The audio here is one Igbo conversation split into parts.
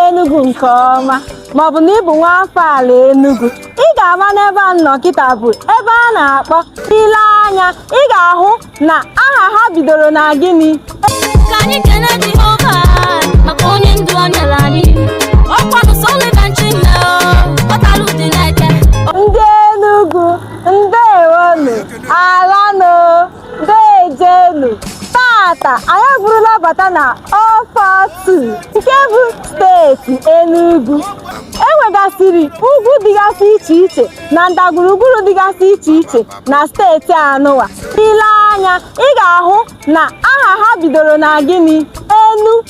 Enugu nke ọma maọbụ na ị bụ nwa afọ ala Enugu ị ga-ama n'ebe a nọ kịta bụ ebe a na-akpọ ile anya ị ga-ahụ na aha ha bidoro na gịnị ka anyị kene Jehova maka onye ndu o nyere anyị ọkwanụ Sullivan Chime ọtalụ dị n'eke ndị Enugu ndewonu ala Dejenu tata anyị eburula bata na 042 nke bụ steeti Enugu enwegasịrị ugwu dịgasị iche iche na ndagwurugwu dịgasị iche iche na steeti anụwa ile anya ị ga-ahụ na aha ha bidoro na gịnị enu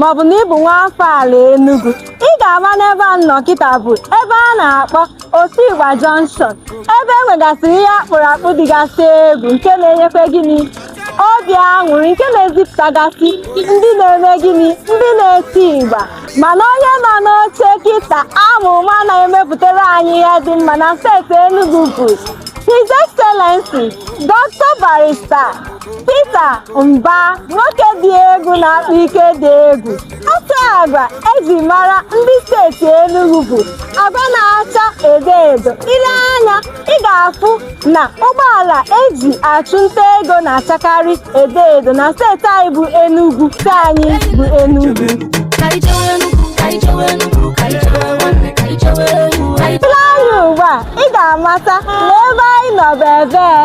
maọbụ na ị bụ nwa afọ ala Enugu ị ga-ama n'ebe a nọ kịta bụ ebe a na-akpọ Otigba Junction ebe e nwegasịrị ihe akpụrụ akpụ dịgasị egwu nke na-enyekwa gịnị obi aṅụrị nke na-ezipụtagasị ndị na-eme gịnị ndị na-eti ịgba mana onye nọ n'oche kịta anụwa na-emepụtara anyị ihe dị mma na steeti Enugu bụ His Excellency Dr. Barrister Peter Mbah nwoke dị egwu na-akpa ike dị egwu otu agwa eji mara ndị steeti Enugu bụ agwa na-acha edo edo ile anya ị ga-afụ na ụgbọala eji achụ nta ego na-achakarị edo edo na steeti anyị bụ Enugu steeti anyị bụ Enugu ile anya ugbu a ị ga-amata na ebe anyị nọ bụ ebee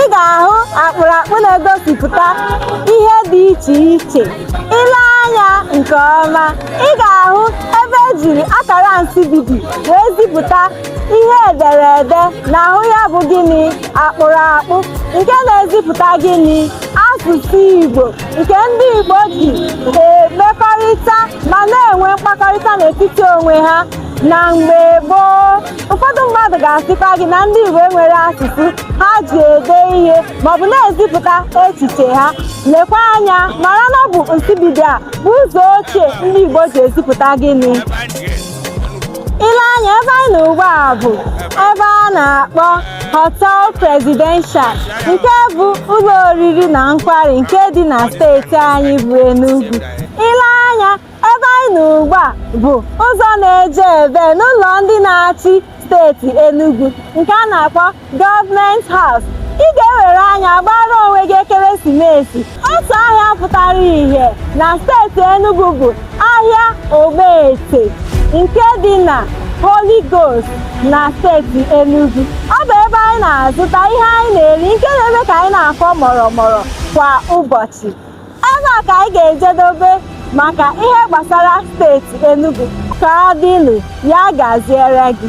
ị ga-ahụ akpụrụakpụ na-egosipụta ihe dị iche iche ile anya nke ọma ị ga-ahụ ebe ejiri akara nsibidi wee zipụta ihe ederede n'ahụ ya bụ gịnị akpụrụakpụ nke na-ezipụta gịnị asụsụ Igbo nke ndị Igbo ji emekọrịta ma na-enwe mkpakọrịta n'etiti onwe ha na mgbe gboo ụfọdụ mmadụ ga-asịkwa gị na ndị Igbo enwere asụsụ ha ji ede ihe maọbụ na-ezipụta echiche ha lekwa anya mara na ọ bụ nsibidi a bụ ụzọ ochie ndị Igbo ji ezipụta gịnị ile anya ebe anyị nọ ugbu a bụ ebe a na-akpọ Hotel Presidential nke bụ ụlọ oriri na nkwari nke dị na steeti anyị bụ Enugu ile anya ebe anyị nọ ugbu a bụ ụzọ na-eje ebe n'ụlọ ndị na-achị steeti Enugu nke a na-akpọ Government House ị ga-ewere anya gbara onwe gị ekeresimesi otu ahịa pụtara ihe na steeti Enugu bụ ahịa Ogbete nke dị na Holy Ghost na steeti Enugu ọ bụ ebe anyị na-azụta ihe anyị na-eri nke na-eme ka anyị na-akwọ mụrụmụrụ kwa ụbọchị Ebe a ka anyị ga-ejedobe maka ihe gbasara steeti Enugu ka ọ dịnụ ya gaziere gị